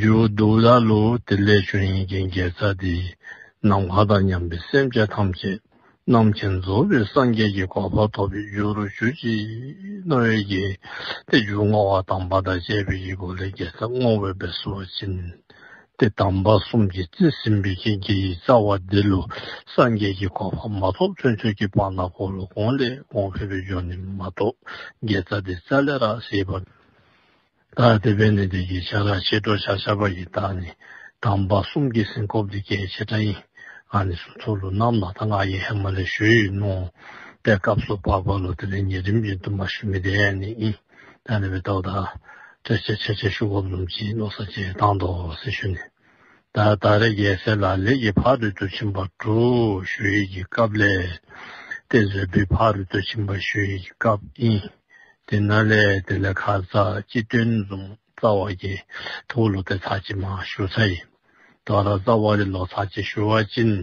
འཇུག་སྡུག་ལ་ལུ་དེ་ལས་བྱུང་ཡིན་གྱི་འགལ་རྩ་དེ་ནམ་མཁའ་དང་མཉམ་པའི་སེམས་ཅན་ཐམས་ཅད་རྣམ་མཁྱེན་རྫོགས་པའི་སངས་རྒྱས་ཀྱི་གོ་འཕང་ཐོབ་པའི་རྒྱུ་རུ་གྱུར་ཅིག་རྣམ་དབལ་གྱི་དེ་རྒྱུ་བསྔོ་བ་དམ་པ་དང་བཅས་པའི་ཡིག་གོ་ལའི་འགལ་རྩ་བསྔོ་བའི་བེར་གསོལ་བ་བྱིན་ཏེ་དམ་པ་གསུམ་གྱི་རྩིས་ཟིན་པའི་རྐྱེན་གྱིས་ཡིག་རྩ་བ་འདི་ལུ་སངས་རྒྱས་ཀྱི་གོ་འཕང་མ་ཐོབ་ཚུན་ཆོད་ཀྱི་སྤང་ན་འཁོར་ལོ་གོང་ལས་གོང་འཕེལ་བའི་སྦྱོར་ནི་མ་གཏོགས་འགལ་རྩ་དེ་རྩ་ལས་རགས་ཞེས་པ། བདག་བདེ་བས་ནི་བདེ་གྱི་ཆ་ལག་ཕྱེད་སྒྲོགས་བྱ་བྱ་བ་ཡི་དྭགས་ནི་དམ་པ་གསུམ་གྱི་སྲིན་ཁོབ་འདི་ཀའི་ཕྱེད་ཕྲ་ཡིན། ཨ་ནི་སུ་ཚོགས་ལུས་རྣམས་ལ་ད་ང་ཡི་ཧེ་མ་ལའི་ཞོལ་ཡིན་ནོ། པའི་སྐབས་སུ་བར་བར་ལོ་དེ་ལས་ཉེ་རིམ་བཞིན་དུ་མ་ཞུ་མི་དེ་ནི་ཨི། ད་ནི་བའི་ཏོག་དང། བྲེ་ཆེ་ཆེ་ཆེ་ཤུ་ཁོབ་ལུམ་གྱིས་རྣོ་ས་ཆེ་དང་དོ་སེ་ཞུ་ནི། ད་ད་རེ་རྒྱལ་སྲས་ལ་ལས་ཀྱི་ཕ་རོལ་ཏུ་ཕྱིན་པ་དྲུག་ཞུ་ཡིག་གི་སྐབས་ལས། ཏེ་མཛོད་སྤུའི་ཕ་རོལ་ཏུ་ཕྱིན་པ་ཞུ་ཡིག་གི་སྐབས་ཨི། དེ་ན་ལས་དེ་ལས་ཁ་ཟ་སྤྱི་དོན་འཛོམས་རྩ་བ་ཀྱི་ཐུ་བོ་ལོ་ཏའི་ཚ་ཅི་མ་ཞུ་ཚ་ཡིན། དོ་ར་ཙཱ་བ་རི་ལོ་ཚ་ཅི་ཞུ་བ་ཅིན།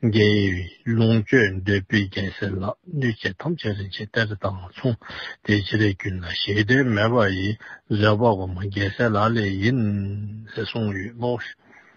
རྒྱལ་ཡི་ལུང་སྤྱོད་འདོད་པའི་རྒྱལ་སྲས་ལ་ནུས་ཆེ་ཐམས་ཅད་རིན་ཆེན་གཏེར་དང་མཚུངས་དེ་ཕྱི་རེ་ཀུན་ལ་གཞལ་དོན་མེད་པ་ཡི་བཟོད་པ་བ་མོ་རྒྱལ་སྲས་ལ་ལས་ཡིན། ཟེར་གསུངས་ཡོད་ལོ།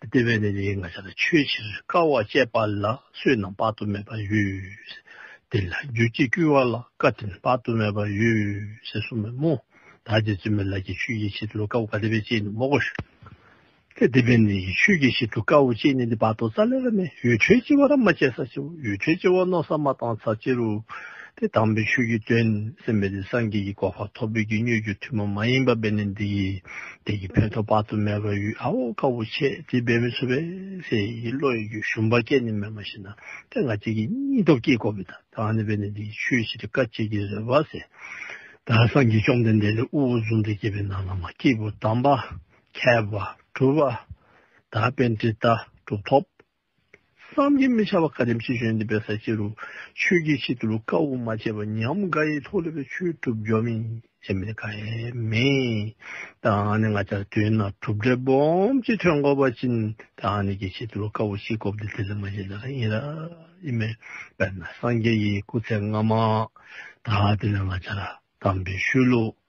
བདེ་བའི་གནས་ལས་ང་ཤ་དང་ཆོས་ཕྱིར་དཀའ་བ་སྤྱད་པ་ལ་བསོད་ནམས་དཔག་ཏུ་མེད་པ་ཡོད། དེ་ལ་རྒྱུ་གཅིག་བསྐུལ་བ་ལ་བཀའ་དྲིན་དཔག་ཏུ་མེད་པ་ཡོད། ཟེར་སོང་མོད་མོ། ད་ཅི་བཙུན་མོའི་ལག་གི་ཆོས་ཀྱི་ཕྱིར་དུ་དཀའ་བོ་ག་དེ་བས་སྤྱད་ནུས་མོག་གོ། དེ་བདེ་བའི་གནས་ཀྱི་ཆོས་ཀྱི་ཕྱིར་དུ་དཀའ་བོ་སྤྱད་ནུས་ཏེ་བར་དོ་རྩ་ལས་ར་མས་ཡུལ་གྲོལ་སྤྱི་བ་ར་མ་སྤྱད་ས་སྤྱི་བོ་ཡུལ་གྲོལ་སྤྱི་བ་རྣོ་ས་མ་བཏང་ས་སྤྱི་རུ། དེ་དང་པོའི་ཆོས་བརྒྱུད་སྟོན་ཟིན་པས་འདི་སངས་རྒྱས་ཀྱི་གོ་འཕང་ཐོབ་བོད་ཀྱི་སྨྱོས་རྒྱུ་ཐུན་མོང་མ་ཡིན་པ་བས་ནི་འདི་ཡི་དེ་ཡི་བོན་ཐོག་དཔག་ཏུ་མེད་པ་ཡུལ་ཨ་འོ་དཀར་པོ་ཆེ་དེ་འབད་མི་ཆོག་པས་ཚེ་ཡི་བློ་ཡི་རྒྱུ་ཞུམ་པ་སྐད་ནི་མེད་མ་ཤི་ན་ཐེངས་ག་ཅིག་གི་སྙིང་སྟོབས་སྐྱེས་དགོས་པས་ད་ལྟ་ནི་བས་ནི་འདི་ཡི་ཆོས་ཞི་བདེ་དཀའ་སྤྱད་ཀྱི་རེ་བ་ཟེར། ད་སངས་རྒྱས་བཅོམ་ལྡན་འདས་ལས་དབུ་བོ་གཟུངས་འདི་བསྐྱེད་པའི་ནང་ན་མ་སྐྱེས་བུ་དམ་པ་མཁས་པ་གྲུབ་པ་དག་པས་འདི་ལྟ་གྲུབ་ཐོབ། བསམ་གྱིས་མི་ཁྱབ་པ་བཀའ་དྲིན་ཅི་བྱོན་འདི་པའི་ས་སྐྱེས་རུ། ཆོས་ཀྱི་ཆེད་དུ་བཀའ་དབུ་མ་བྱས་པ་ཉམས་དགའ་ཡིས་ཐོག་ལེ་བའི་ཆོས་གྲུབ་འབྱོར་མིན་ཞེས་མི་དགའ་ཡས་མེད། ད་ཨ་ནི་ང་ཅག་དུས་ན་གྲུབ་འབྲས་སྦོམ་གྱིས་ཐོན་དགོས་པ་བྱིན་ད་ཨ་ནི་ཀྱི་ཆེད་དུ་བཀའ་དབུ་གཅིག་བསྐོབ་འདི་དེ་ལས་མ་གཞན་ལས་ཀ་ཡིན་ར་ཡིན་མེད། དཔེར་ན་སངས་རྒྱས་ཡི་སྐུ་ཚེ་སྔ་མ། ད་དེ་ནི་ང་ཅག་ལ་དམ་པའི་ཤུལ་ལུགས།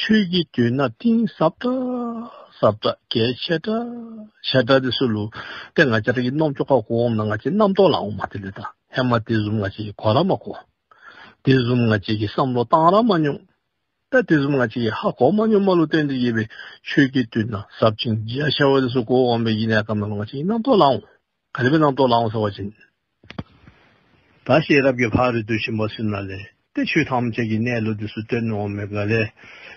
ཆོས་ཀྱི་དུས་ན་གཏིང་ཟབ་དྲག་ཟབ་དྲག་རྒྱས་ཆེ་དྲག་ཆེ་དྲག་དེ་སུ་ལུགས་དེ་ང་ཅག་གི་རྣོ་ཅོག་ཁ་གོ་འོང་ན་ང་ཅག་རྣམ་རྟོག་ལ་འོང་མ་དེ་ལས་དང་ལྷན་མ་དེ་གསུམ་ང་ཅག་གི་གོ་ར་མ་གོ། དེ་གསུམ་ང་ཅག་གི་བསམ་བློ་གཏང་ར་མ་མྱོང། ད་དེ་གསུམ་ང་ཅག་གི་ཧ་གོ་མ་མྱོང་མ་ལུགས་གཏན་དུ་ཡེ་བའི་ཆོས་ཀྱི་དུས་ན་ཟབ་ཅིང་རྒྱས་ཆེ་བ་དེ་སུ་གོ་འོང་པའི་ཡེ་ནས་ཀ་མ་ལུགས་ང་ཅག་གི་རྣམ་རྟོག་ལ་འོང། ག་ནི་བས་སྣང་སྟོང་ལ་འོང་ཟེར་བ་བཞིན། ད་ཤེས་རབ་ཀྱི་ལྷག་རེ་དུ་ཞིག་མ་ཟིན་ན་ལས། ཏེ་ཆོས་ཐམས་ཅད་ཀྱི་གནས་ལུགས་དུས་སུ་སྟོན་འོང་མེད་པ་ལས།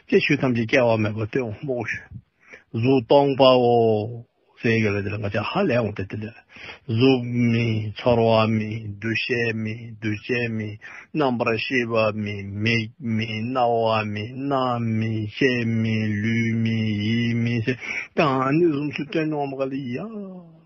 ཅེས་ཆོས་ཐམས་ཅད་སྐྱེ་བ་མེད་པར་སྟོན་འོང་སྨྲོ། གཟུགས་སྟོང་པའོ། སེང་གེ་ལ་དེ་ལ་ང་ཅག་ཧ་ལས་འོང་སྟེ་དེ་ལས། གཟུགས་མིན། ཚོར་བ་མིན། འདུ་ཤེས་མིན། འདུ་བྱེད་མིན། རྣམ་པར་ཤེས་པ་མིན། མིག་མིན། རྣ་བ་མིན། སྣ་མིན། ལྕེ་མིན། ལུས་མིན། ཡིད་མིན། ཞེས་གང་ནི་གཟུགས་སུ་སྟོན་འོང་བ་ག་ལ་ཡིན་ཡང།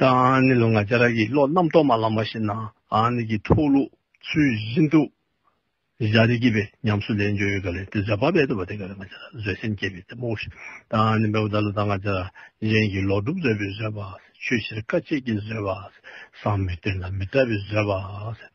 དང་ནི་ལོ་ང་བྱ་ར་གི་བློ་རྣམ་རྟོག་མ་ལ་མ་ཤེས་ན་དང་ནི་གི་ཐུགས་ལུགས་ཚུལ་བཞིན་དུ་བྱ་རི་གི་བའི་ཉམས་སུ་ལེན་འཇོ་ཡོད་ག་ལས་དེ་བྱ་བ་བས་དུ་བ་དེ་ག་ལས་ང་བྱ་ར་བཟོད་སེམས་བསྐྱེད་པའི་དེ་མོ་ཤེས་དང་ནི་བའི་བ་ད་ལ་དང་ང་བྱ་ར་གཞན་གྱི་ལོག་སྒྲུབ་བཟོད་པའི་བཟོད་པ་ཆོས་ཕྱིར་དཀའ་སྤྱད་ཀྱི་བཟོད་པ་བསམ་མི་བརྟན་ན་མི་བལྟ་བའི་བཟོད་པ།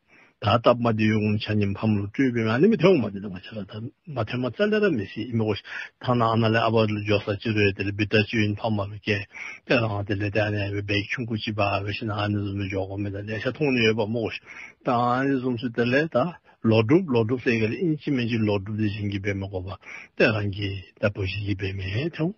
ད་ལྟ་མ་དེ་ཡོང་བྱ་ཉིན་ཕམ་ལོ་སྤྲུལ་པའི་ང་ནི་མི་དེ་ཡོང་མ་དེ་དང་བྱ་ལ་ད་མ་དེ་མ་རྩ་ལེ་ར་མི་ཤེས་ཨི་མི་གོ་ཐང་ན་ཨ་ན་ལེ་ཨ་བ་ལུ་འཇོག་ས་ཅི་རོ་ཡ་དེ་ལེ་བི་ཏར་ཅི་ཡིན་ཕ་མ་རུ་ཀེ་ཏེ་རང་དེ་ལེ་ཏེ་ཨ་ན་ཡ་བི་བེ་ཁྱུང་ཁུ་ཅི་བ་ཨ་བེ་ཤི་ན་ཨ་ནི་ཟུ་མི་འཇོག་གོ་མེ་ད་ལེ་ཤ་ཐུང་ནི་ཡོད་པ་མོ་གོ་ད་ཨ་ནི་གཟུམ་སུ་དེ་ལེ་ད་ལོག་སྒྲུབ་ལོག་སྒྲུབ་སེ་ག་ལེ་ཨིན་ཅི་མེན་ཅི་ལོག་སྒྲུབ་དེ་བཞིན་གི་བེ་མི་གོ་བ་ཏེ་རང་གི་ད་བུ་བཞིན་གི་བེ་མེ་དེ་ཡོང།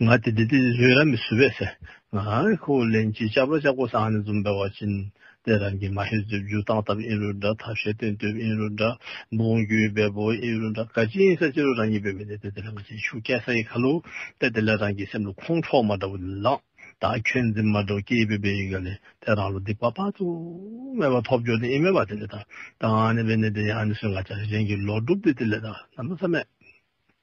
ང་དེ་དེ་དེ་རོས་ར་མི་སུ་བས་སེ། ང་ཨའི་ཁོ་བོ་ལན་ཅིག་ཅབ་ར་ཅབ་ཁོ་སང་ནི་འཛུམ་པའི་བ་ཅིན། དེ་རང་གིས་མ་ཧེ་རྫུས་བརྒྱུ་སྟངས་སྟབས་ཨིན་རུ་འདྲ་ཐབས་ཤེས་སྟོན་དུས་ཨིན་རུ་འདྲ། འབུངས་རྒྱུའི་འབད་པོ་ཨིན་རུ་འདྲ་ག་ཅིན་ས་ཅི་རུ་རང་ཉིད་པའི་མི་དེ་དེ་དེ་ལ་ང་ཅིག་ཤུགས་རྐྱེན་ས་ཡི་ཁ་ལུ། དེ་དེ་ལ་རང་གིས་སེམས་ལ་ཁོང་ཁྲོ་མ་འདྲ་བོ་ལི་ལང། ད་ཁྱོད་འཛིན་མ་འདྲ་བོ་སྐྱེས་པའི་བའི་ཡིག་ག་ལས་དེ་རང་ལ་སྡིག་པ་དཔག་ཏུ་མེད་པ་ཐོབ་འགྱོ་དེ་ཨིན་མེད་པ་དེ་ལས་ད་ད་ང་ནི་བའི་ནི་དེ་ཡང་ནི་སུས་ང་ཅག་རིགས་ཅན་གྱི་ལོག་སྒྲུབ་དེ་དེ་ལས་ད་ད་མི་ཚ་མེད།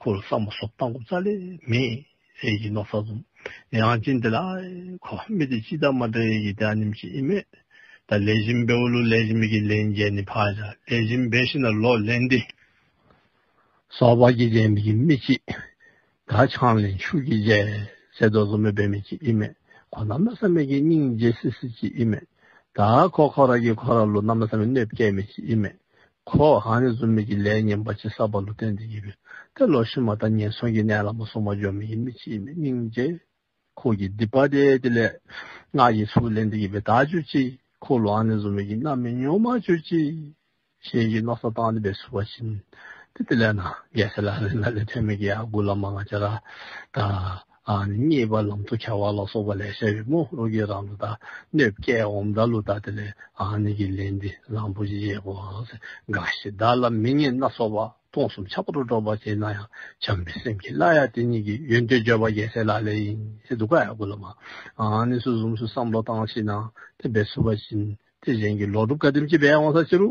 ཁོ་ལ་སྲང་མ་སོགས་བཏང་སྒོམ་ཚར་ལས་མེད། ཟས་ཀྱི་ནོར་ཚ་འཛོམ། ནད་ཡང་ཅི་འདི་ལ། ཁོ་བ་མི་དེ་ཅི་ད་མ་འདྲ་ཡེ་ཡི་དེ་ཨ་ནིམ་ཅི་ཨི་མེད། ད་ལས་བཞིན་བེ་འུ་ལུ་ལས་བཞིན་མི་གི་ལས་མཇལ་ནི་བག་ཆགས་ལས་བཞིན་བེ་ཤི་ན་ལོག་ལས་འདི། སོགས་བག་གི་རྗེས་མི་གི་མི་ཅི། ད་ཆང་ལས་ཕྱུགས་གི་རྗེས་ཟས་རྡོ་བཟོ་མི་བེ་མི་ཅི་ཨི་མེད། ཁོ་ནམ་ལ་སྲ་མེད་གི་སྙིང་རྗེ་སི་སི་ཅི་ཨི་མེད། ད་ཁོ་ཁོ་ར་གི་ཁོ་ར་ལུ་ནམ་ལ་སྲ་མེད་གནོད་བསྐྱལ་མི་ཅི་ཨི་མེད། ཁོ་བོའང་རེ་བཟུང་མིག་གི་ལས་ངན་པ་ཅི་བསགས་པ་ལུས་རྟེན་འདི་ཡིན་པས་དེ་ལོགས་ཤིག་མ་མཐའ་ངན་སོང་གི་གནས་ལ་མ་སོང་བ་སྦྱོར་མི་ཡིན་མི་ཅིས་མི་སྙིང་རྗེ། ཁོ་བོས་སྡིག་པ་དེ་དེ་ལས་སྔགས་ཀྱི་ཚུལ་ལས་འདི་ཡིན་པས་དག་གྱུར་ཅིག་ཁོ་ལོའང་རེ་བཟུང་མིག་གི་རྣམ་སྨིན་ཉོན་མ་གྱུར་ཅིག། ཞེས་ཀྱི་མནོ་བསམ་བཏང་སྟེ་བའི་བསུ་བ་བྱིན། དེ་དེ་ལས་ན་རྒས་སེ་ལ་རེ་ན་ལས་ཐོན་མི་དགེ་ཡང་དགུ་ལ་མ་ང་ཅ་ར་དང། རྙེད་པ་ལམ་དུ་བྱ་བ་ལ་སོགས་པ་ལས་བཤད་པའི་རྨོག་རུ་ཀའི་རང་ལུགས་དང་གནོད་བསྐྱལ་འོམ་བདག་ལུགས་དག་དེ་ལས་ཀྱི་ལས་འདི་བཟང་པོ་ཞེས་བཤད་པའོ། འགའ་ཞིག་བདག་ལ་མི་སྙན་སྣ་ཚོགས་པ་སྟོང་གསུམ་ཆགས་པ་རུ་སྒྲོགས་པར་བྱེད་ན་ཡང་བྱམས་པའི་སེམས་ཀྱིས་བླ་ཡག་དེ་ཉིད་ཀྱི་ཡོན་ཏན་བརྗོད་པ་རྒྱལ་སྲས་ལ་ལས་ཡིན་ཞེས་སྡུག་ཀ་ཡག་དགུ་ལ་མ་ནི་སུ་ཟུམ་སུ་བསམ་བློ་བཏང་ཕྱིན་ན་དེ་འབད་སུ་བ་བཞིན་དེ་གཞན་གྱི་ལོག་སྒྲུབ་བཀའ་དྲིན་གྱིས་འབད་འོང་ས་ཅི་རུ།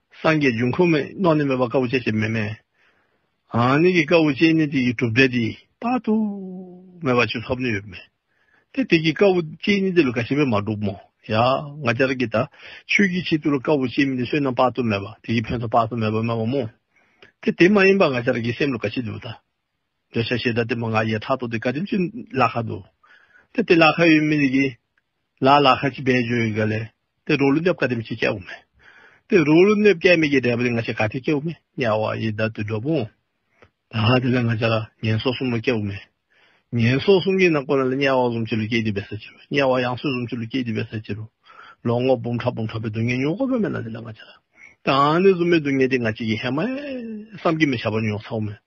སངས་རྒྱས་འབྱུང་ཁུངས་མེད་རྣོ་ནི་མེད་པ་དཀའ་བོ་ཅན་ཞེས་མེད་མེད་ཨང་ནི་གི་དཀའ་བོ་ཅན་ནི་དེ་ཡི་གྲུབ་འབྲས་འདི། དཔག་ཏུ་མེད་པ་ཆུད་ཐབས་ནི་ཡོད་མེད་དེ། དེ་གི་དཀའ་བོ་ཅན་ནི་འདི་ལ་ག་ཞིག་པས་མ་གྲུབ་མོ། ཡང་ང་ཅར་གི་ད་ཆོས་ཀྱི་ཆེད་དུ་ལ་དཀའ་བོ་ཅན་མིན་ཏེ་བསོད་ནམས་དཔག་ཏུ་མེད་པ་དེ་ཡི་ཕན་ཚུན་དཔག་ཏུ་མེད་པ་སྨོས་པ་མོ། དེ་དེ་མ་ཡིན་པ་ང་ཅར་གི་སེམས་ལ་ག་ཞིག་འདུག་ད། འདོད་ཆགས་ཤེས་བྱ་དེ་མོ་ང་ཡེ་ཐག་ཏུ་དེ་ཀ་རིམ་གྱིས་བླ་ཁ་དུ། དེ་སྟེ་བླ་ཁ་ཡོད་མི་རིགས་ཀྱི། ལ་བླ་ཁ་གྱི་བེད་སྦྱོར་ཡོད་ག་ལས། དེ་རོ་ལུ་ནེབ་ཀ་རིམ་གྱིས་སྐྱེ་བོ་མེད། དེ་རོ་ལུ་ནེབ་སྐྱེ་མེད་ཀྱི་འབྲས་བུ་དེ་ང་ཆེ་ག་དེ་སྐྱེ་བོ་མེད་དམྱལ་བ་ཡི་དྭ་ཏུ་འགྲོ་འབུངས། ད་ཧ་དེ་ལ་ང་ཆ་ལ་ངན་སོགས་གསུམ་ལ་སྐྱེ་བོ་མེད། ངན་སོགས་གསུམ་གྱི་ནང་ཁོ་ན་ལ་དམྱལ་བ་གསུམ་གཅིག་ལ་སྐྱེ་དུས་བས་ས་ཅི་རུ། དམྱལ་བ་ཡང་སོས་གསུམ་གཅིག་ལ་སྐྱེ་དུས་བས་ས་ཅི་རུ། ལོ་ངོ་འབུམ་ཕྲག་འབུམ་ཕྲག་པའི་སྡུག་བསྔལ་མྱོང་དགོས་པ་མེད་ན་དེ་ལ་ང་ཆ་ལ། དེའང་ནི་གཟུགས་མེད་སྡུག་བསྔལ་དེ་ང་ཅིག་གིས་ཧེ་མ་ཧེ། བསམ་གྱིས་མི་ཁྱབ་པར་མྱོང་ཚར་བ་མེད།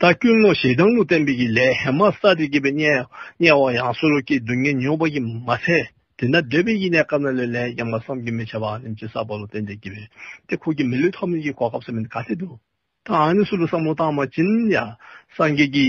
ད་སྐྱོན་ངོ་ཞེ་སྡང་ལུས་བསྟན་པའི་ཡིད་ལས་ཧེ་མ་ས་ཏི་སྐྱེས་པའི་དམྱལ་བ་ཡང་སོ་རུ་སྐྱེས་སྡུག་བསྔལ་མྱོང་བ་ཡིན་མ་ཚད་དེ་ན་འདོད་པའི་ཡིད་ནས་སྐབས་ན་ལོས་ལན་ཡང་མ་བསམ་གྱིས་མི་བྱ་བར་ནི་ཅི་ས་བ་ལུས་བསྟན་འདས་སྐྱེས་པའི་དེ་ཁུག་གི་མི་ལུས་ཐོབ་ནས་ཀྱི་གོ་སྐབས་སམ་མིན་ག་ཚད་དུ་ད་ཨ་ནི་སུ་ལ་བསམ་བློ་བཏང་མ་བྱིན་ཡང་སངས་རྒྱས་ཀྱི།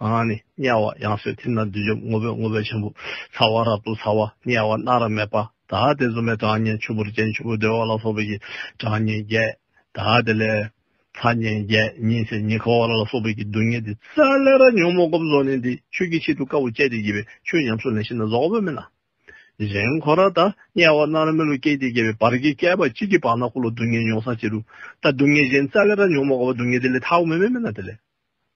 གང་ནི་དམྱལ་བ་ཡང་སོས་ཐིམ་ན་བདུད་འཇོམས་ངོ་བོས་ངོ་བོ་ཆེན་པོ་ཚ་བ་རབ་ཏུ་ཚ་བ་དམྱལ་བ་སྣ་རབ་མེད་པ་དག་སྟེ་བཙོ་མའི་གྲངས་བསྙེན་ཆུ་བུར་ཅན་ཆུ་བོ་རྡོལ་བ་ལ་སོགས་པའི་གྱི་གྲངས་བསྙེན་བརྒྱད་དག་དེ་ལས། ཚ་བསྙེན་བརྒྱད་ཉིན་བྱེད་ཉིན་ཁ་བ་ར་ལ་སོགས་པའི་གྱི་དུག་བསྙེན་ཏེ། ས་ལེ་ར་ཉོན་མོངས་སྒོམ་རྫོགས་ནི་འདི་ཆོས་ཀྱི་ཆེད་དུ་དཀར་པོ་སྤྱད་དེ་དགྱེས་པའི་ཆོས་ཉམས་སུ་ལེན་ཤེས་ན་རྫོགས་པོ་མིན་ནམ། གཞན་འཁོར་ར་དང་དམྱལ་བ་སྣ་རབ་མི་ལུ་སྐྱེས་ཏེ་དགྱེས་པའི་བར་གྱི་བསྐལ་པ་གཅིག་གི་བར་ན་འཁོར་ལོ་སྡུག་བསྔལ་མྱོང་སངས་བྱེད་དུ། ད་སྡུག་བསྔལ་གཞན་ས་ལེ་ར་ཉོན་མོངས་དགའ་བ་སྡུག་བསྔལ་དེ་ལས་ཐར་བ་མི་དམན་མིན་ན་དེ་ལས།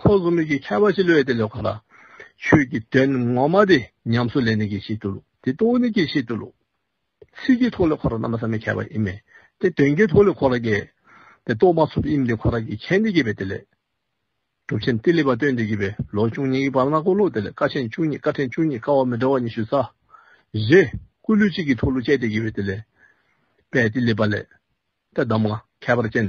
ཁོ་བཟོ་མེད་ཀྱི་ཁྱད་པར་ཞིག་ལོས་དེ་ལོས་གང་དང། ཆོས་ཀྱི་དོན་ངོ་མ་དེ་ཉམས་སུ་ལེན་ནི་ཀྱི་ཤེས་རྟོགས་ལུགས་དེ་རྟོགས་བ་ནི་ཀྱི་ཤེས་རྟོགས་ལུགས། ཚིག་གི་ཐོག་ལས་ཁོ་རང་རྣམ་པ་ཟག་མེད་ཁྱད་པར་ཨེ་མེད་དེ་དོན་གྱི་ཐོག་ལས་ཁོ་རང་གི། དེ་རྟོགས་མ་ཐུབ་དབྱིངས་དེ་ཁོ་རང་གི་ཁྱད་ནི་ཀྱི་བས་དེ་ལས། གྲུབ་ཆེན་ཏི་ལི་པ་སྟོན་དེ་ཀྱི་བས་ལོ་བཅུ་གཉིས་ཀྱི་བར་ན་ཀོ་ལོག་དེ་ལས་བཀའ་ཆེན་བཅུ་གཉིས་བཀའ་ཕྲན་བཅུ་གཉིས་བཀའ་བ་མི་འདྲ་བ་ཉི་ཤུ་རྩ། བཞི། སྐུ་ལུས་གཅིག་གི་ཐོག་ལུས་བཅད་དེ་ཀྱི་བས་དེ་ལས། དཔལ་ཏི་ལི་པ་ལས། དེ་གདམས་ངག་ཁྱད་པར་ཅན།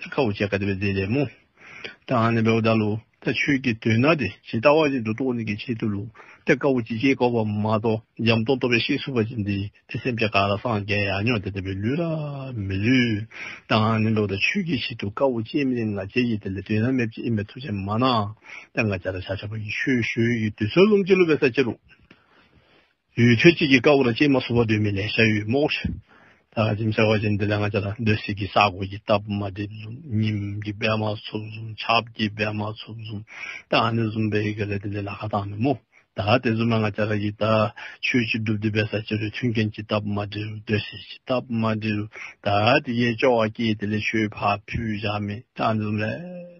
ད་ཁ་བོ་ཅག་གདབ་པའི་རྫས་ལས་མོ། ད་ཨ་ནི་བའོ་བཟླ་ལོ། ད་ཆོས་ཀྱི་དོན་ན་དེ་ཇི་ལྟ་བ་བཞིན་དུ་རྟོགས་ནས་ཀྱི་ཆེད་དུ་ལུགས་ད་ཀ་བོ་ཅི་བྱས་བསྐོར་བ་མ་གཏོགས་འཇམ་སྟོང་རྟོགས་པའི་ཤེས་སུ་བ་ཅན་དེ་དེ་སེམས་ཅན་ག་ལ་སངས་རྒྱ་ཡ་ཉོ་དེ་ལྟ་བུའི་ལུས་ལ་མི་ལུས། ད་ཨ་ནི་བའོ་བཟླ་ཆོས་ཀྱི་ཆེད་དུ་ཀ་བོ་ཅན་མིན་ང་རྒྱལ་གྱི་དེ་ལས་དོན་ན་མེད་ཅེས་ཨིན་པའི་ཐུགས་ཆེན་མ་གནང། ད་ང་རྒྱལ་ལ་བྱ་བྱ་བ་ཡི་ཆོས་ཞུ་ཡི་དུས་ཚོད་རླུང་ལྕི་ལོ་བའི་ས་ཆེ་རུ། ཡུལ་ཆོས་གཅིག་གི་དཀར་པོ་དང་སྐྱེས་མ་སོ་བ་འདོད་མི་ལེན་ཤ་ཡུས་རྨོག། ད་ག་ཅིམ་ཤ་བ་ཅན་འདི་ལས་ང་ཅག་ལ་འདོད་སྲིད་ཀྱི་ས་གོ་གི་རྟ་ཕོ་མ་སྡེ་འཛུམ་སྙིམ་གྱི་སྦལ་མ་ཚུབ་འཛུམ་ཆབ་ཀྱི་སྦལ་མ་ཚུབ་འཛུམ་ད་ག་ནི་འཛུམ་སྦལ་ཡི་གེ་ལས་དེ་འདྲའི་ལ་ཁ་བཏགས་མེད་མོད་ད་ག་དེ་འཛུམ་མ་ང་ཅག་ར་གི་ད་ཆོས་གཅིག་སྒྲུབ་འདི་པའི་ས་སྐྱེ་རུ་མཐུན་རྐྱེན་གྱི་རྟ་ཕོ་མ་འདྲེ་རུ་འདོད་སྲིད་ཀྱི་རྟ་ཕོ་མ་འདྲེ་རུ་ད་ག་དེ་གའི་སྐྱོ་བ་སྐྱེས་དེ་ལས་ཆོས་ཕ་ཕུ་བཞག་མེད་ད་ག་འཛུམ་ལས།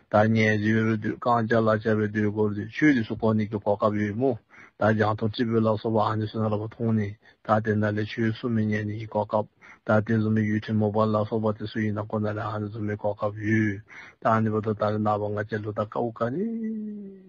ད་ཉལ་རྫིའི་རུས་དུད་རྐང་བཅག་ལ་བཅག་པའི་དུས་བསྐོར་དུས་ཆོས་ལུས་སུ་གོ་ནི་གོ་སྐབས་ཡོད་མོད། ད་རྒྱང་ཐོག་ཀྲི་པུའི་ལག་སོག་པ་ཨ་ནི་སུ་ན་ར་བ་མཐོང་ནི་ད་དེ་འདྲ་ལས་ཆོས་སུ་མི་ཉལ་ནི་ཡི་གོ་སྐབས། ད་དེ་རྫུན་མའི་ཡུལ་ཁྲིམས་མོ་པ་ལག་སོག་པ་དེ་སུ་ཡིན་དང་གོ་ན་ར་ཨ་ནི་རྫུན་མའི་གོ་སྐབས་ཡོད། ད་ཨ་ནི་བ་དོ་ད་རི་ནག་པ་ང་བཅས་ལུ་ད་ཀ་འུ་ཀ་ནི།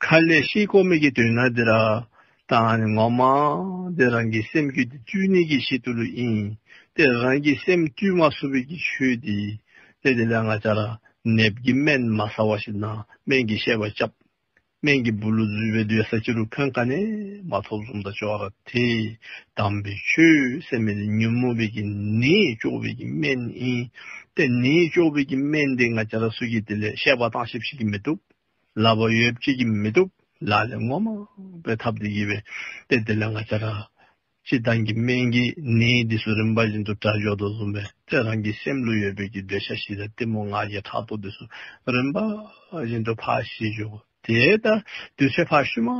མཁའ་ལས་ཤེལ་སྒོ་མེད་ཀྱི་དུས་ན་དེ་ར་དང་ནི་ངོ་མ། དེ་རང་གི་སེམས་རྒྱུད་དེ་བཅུའི་གནད་ཀྱི་གཞི་དུ་ལུས་ཡིན། དེ་རང་གི་སེམས་བཅུས་མ་སུ་བས་ཀྱི་ཆོས་དེ། དེ་དེ་ལས་ང་ཅག་ར་ནེབ་ཀྱི་སྨན་མ་ཟ་བ་ཞིག་ན་སྨན་གྱི་ཤེས་པ་བཅབ། སྨན་གྱི་བུ་ལུ་བརྫུས་པའི་དུས་ས་སྐྱི་རུ་ཁང་ཁ་ནས་མ་ཐོབ་གསུམ་ད་ཅོ་ར་དེ། དམ་པའི་ཆོས་སེམས་མེད་དེ་ཉོན་མོངས་བས་ཀྱི་ནི་ཅོག་བས་ཀྱི་སྨན་ཡིན། དེ་ནི་ཅོག་བས་ཀྱི་སྨན་དེ་ང་ཅག་ར་སུས་ཀྱི་དེ་ལས་ཤེས་པ་དང་ཞིབ་བཤེར་གྱི་མི་ཐུབ། ལ་བ་ཡོད་བྱེད་ཀྱི་མི་འདུག་ལ་ལས་ངོ་མ་པའི་ཐབས་དེ་ཡིན་བས་ཏེ་དེ་ལས་ང་ཅག་རང་སྤྱི་དང་གི་སྨན་གྱི་ནི་འདི་སུ་རིམ་པ་བཞིན་དུ་དགྲ་བཞོག་ཏུ་བཟུང་བས་ཏེ་རང་གི་སེམས་ལུས་ཡོད་བྱེད་ཀྱི་འདོད་ཆགས་ཞི་དང་གཏི་མུག་ང་རྒྱལ་ཕྲག་དོག་འདི་སུ་རིམ་པ་བཞིན་དུ་ཕ་ཞེས་བརྗོད་གོ་དེ་ལྟར་འདོད་བྱེད་ཕ་ཤུལ་མ་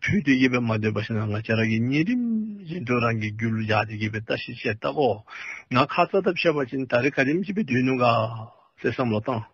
ཕུལ་ཏེ་ཡིད་པས་མ་འདོད་པ་ཞིག་ན་ང་ཅག་རང་གིས་ཉིན་རིམ་བཞིན་དུ་རང་གི་རྒྱུད་ལ་འཇགས་ཏེ་ཡིད་པའི་ལྟ་ཞིག་ཆེས་བརྟག་གོ་ང་ཁ་ཚ་ཐབས་ཆེ་བ་ཅན་ད་རེས་ག་རིམ་བྱིས་པའི་དུས་ནུ་འགའ་ལས་བསམ་བློ་བཏང།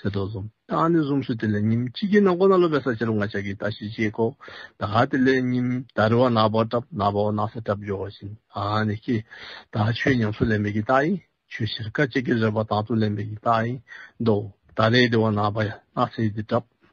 ཟེར་དོ་གསུམ། ད་ནི་གསུམ་སུ་དེ་ལས་ཉིན་གཅིག་གིས་ན་མགོ་ན་སློབ་པའི་ས་ཕྱི་རུ་ང་ཅག་གིས་ད་ཤི་ཅེས་བསྒོ། ད་དེ་ལས་ཉིན་ད་རི་བ་ནག་པོ་བྲབ་ནག་པོ་ནག་ས་བྲབ་འཇོག་བཞིན་ད་ནི་སྐྱེས། ད་ཆོས་ཉམས་སུ་ལེན་པའི་གི་ད་ཡིན། ཆོས་ཕྱིར་ཁ་ཅིག་གིས་རེ་བ་དང་དུ་ལེན་པའི་གི་ད་ཡིན། མདོ། ད་རེའི་དེ་བ་ནག་པ་ཡང་ནག་ཚེས་དེ་བྲབ།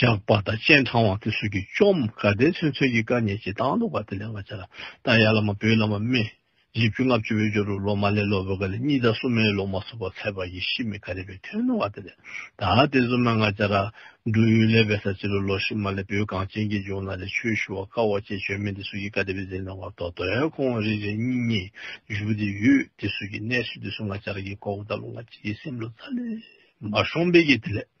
ཇག་པ་དང་སྤྱན་དྲང་བ་དེ་སུ་ཀྱིས་བཅོམ་བཀའ་བསྟན་ཚུན་ཚོད་ཀྱི་བཀའ་ཉན་ཅིང་སྟངས་དུག་པ་དེ་ལས་བར་བྱ་ལ། རྟ་ཡར་ལ་མ་བོད་ལ་མ་སྨད། རྗེས་བཅུ་ལྔ་བཅུ་བོད་ཇོ་རུ་ལོ་མ་ལས་ལོ་བོད་ཀ་ལས་གཉིས་དང་སུ་མའི་ལོ་མ་སུ་བ་ཚད་པ་ཡི་ཤི་མི་ཀ་རེ་བའི་ཐོན་ནོ་བ་དེ་ལས་ད་དེ་ཚུ་མ་ང་བྱ་ར། འབྲུ་ཡུལ་ལས་བས་ས་ཅི་རུ་ལོ་ཤི་མ་ལས་བོད་གངས་ཅན་གྱི་ལྗོངས་ན་ལས་ཆོས་ཞུ་བ་དཀའ་བ་བཅས་བྱོན་མིན་དེ་སུ་ཀྱིས་བཀའ་དེ་བས་མཛད་གནང་བར་དོ་དོན་ཁོང་རེ་རེ་གཉིས་གཉིས་བཞུགས་དེ་ཡོད་དེ་སུ་ཀྱིས་གནས་སུ་དེ་སུ་ང་བྱ་ར་གྱི་ཀོ་བོ་ད་ལོ་ང་ཅི་ཡི་སེམས་ལོ་ཙཱ་ལས། མ་ཤོང་བས་ཀྱི་དེ་ལས།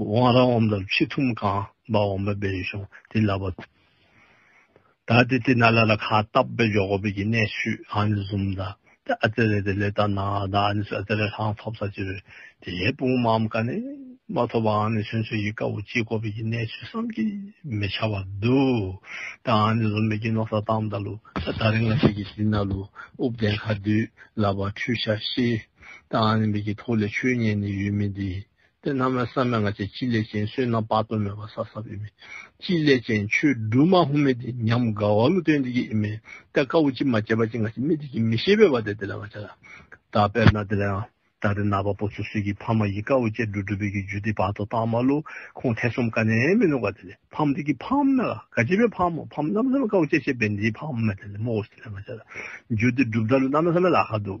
དབང་རང་འོམ་ལ་ཕྱི་ཐུམ་རྐང་པ་འོམ་པའི་བེ་རི་ཤོང་དེ་ལ་བ། ད་དེ་དེ་ན་ལ་ལ་ཁ་ཏབ་བེ་འཇོག་གོ་བེ་གི་གནས་ཤུད་ཨ་ནི་ཟུམ་ད་དེ་ཨ་ཙེ་རེ་དེ་ལེ་ད་ན་ད་ཨ་ནི་སུ་ཨ་ཙེ་རེ་ལྷང་ཐོབ་ས་ཅི་རེ་དེ་ཡའི་སྤུང་མ་འམ་ཀ་ནི་མ་ཐོབ་ཨ་ནི་ཆོན་ཆོན་གི་དཀའ་བོ་ཅི་གོ་བེ་གི་གནས་ཤུད་བསམ་གི་མེ་ཆ་བ་དུ་ད་ཨ་ནི་ཟུམ་བེ་གི་ནོ་ས་ཏམ་ད་ལུ་ད་ད་རི་ང་ཤི་གི་དེ་ན་ལུ་ཨུབ་དན་ཁ་དུས་ལ་བ་ཁྲུས་ཤ་ཤི་ད་ཨ་ནི་བེ་གི་ཐུགས་ལས་ཆོས་ཉན་ནི་ཡུལ་མི་དེ་དེ་རྣམས་ལ་བསམ་ཡང་ང་ཅག་ཅི་སླད་ཅིང་བསོད་ནམས་དཔག་ཏུ་མེད་པ་བསགས་ས་བས་མེད། ཅི་སླད་ཅིང་ཆོས་སྒྲུབ་མ་ཧོ་མེད་དེ་ཉམས་དགའ་བ་ལུས་རྟེན་འདི་ཡིན་མིན་ད་བཀའ་བོ་ཅི་མ་བྱས་པ་ཅི་ང་ཅི་མི་དེ་ཅི་མི་ཤེས་པས་བ་དེ་དེ་ལ་ང་ཅག་ད་དཔེར་ན་དེ་ལ་ཡང་ད་རེ་ན་བ་པོ་ཚོ་སུས་ཀྱིས་ཕ་མ་ཡི་བཀའ་བོ་ཅི་སྒྲུབ་སྒྲུབ་པའི་ཀྱི་རྒྱུ་དེ་བར་དོ་དང་མ་ལུས་ཁོང་ཐེ་ཚོམ་ཀ་ནས་མི་ནུག་བ་དེ་ལས་ཕམ་དེ་ཀྱི་ཕམ་ན་ག་ཅི་པའི་ཕམ་མོ་ཕམ་ནམ་བསམ་བཀའ་བོ་ཅི་བྱས་པས་འདིའི་ཕམ་མེད་དེ་ལས་མོ་ཧོ་དེ་ལ་ང་ཅག་རྒྱུ་དེ་སྒྲུབ་ད་ལུས་ནམ་ན་བསམ་ལ་ཁ་འདུག།